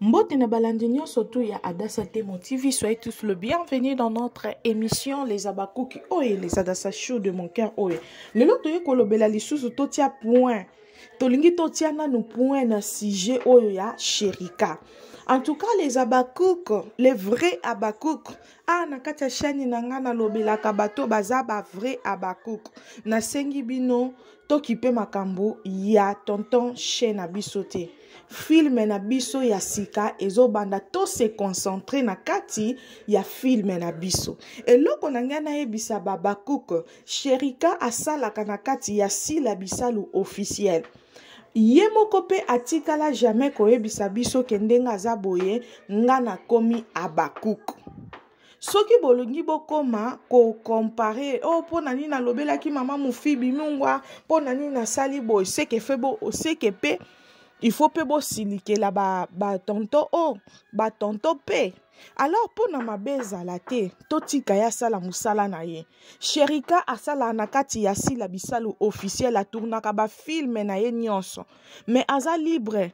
Mbote na balandi nyonso tu ya Adassa Temo TV, soyez tous le bienvenu dans notre émission Les Abakuki oye les Adassa Show de mon cœur oye. Lelo toye kolobela lisusu totia point. Tolingi totia nanu point na sujet oyo ya Sherika. En tout cas les Abakouk, les vrais Abakouk. Ah na kati ya chaîne na nga nalobelaka bato baza ba vrais Abakouk. Nasengi bino tokipe makambo ya tonton chez na biso te. filme na biso ya sika ezobanda to se concentre na kati ya filme na biso eloko na ngai nayebisa babakuk sherika asalaka na kati ya sila bisalu officiel ye moko mpe atikala jamais koyebisa biso ke ndenge aza boye nga nakomi abakuk soki bolingi bokoma kocompare o oh, mpo na nini nalobelaki mama mofibi mungwa mpo na nini nasali boye seke fe bo seke mpe il faut mpe bosilikela batonto ba o oh, batonto mpe alors mpo na mabe ezala te totika ye asala mosala na ye sherika asalaka na kati ya sila bisalu officiel atournaka bafilme na ye nyonso mais aza libre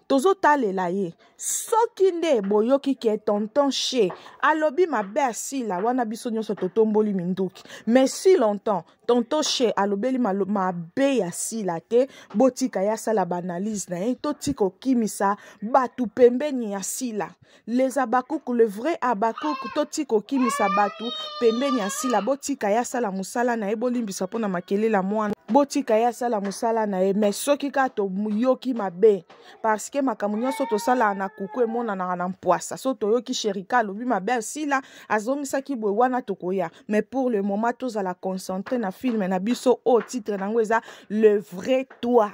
tozotalela ye soki nde boyoki ke tonton she alobi mabe ya sila wana biso nyonso totomboli minduki mais si longtemps tonton she alobeli mabe ya sila te botika ye asala baanalyse na ye totika okimisa bato pembeni ya sila les habakuku le vrai habakuku totika okimisa bato pembeni ya sila botika ye asala mosala na ye bolimbisa mpo na makelele ya mwana botika ye asala mosala na ye mais soki kaka toyoki mabe parce que makambo nyonso tosalaka na kuku emonanaka na mpwasa so toyoki sherika alobi mabe asila azongisaki boye wana tokoya mais pour le moment tozala concentre na filme na biso oyo titre na yango eza le vrai toi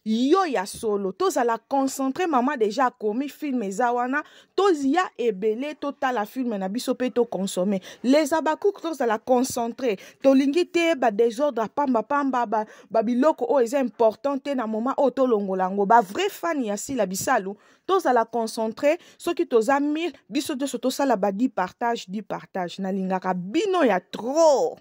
yo ya solo tozala concentre mama deja akomi film eza wana toya ebele totala filme na biso mpe toconsome les abacouk tozala concentre tolingi te badesordre ya pambapamba babiloko ba oyo eza important te na moma oyo tolongola yango bavrai fan ya sila bisalu tozala concentre soki toza mille biso nyonso tosala badi partage di partage nalingaka bino ya trop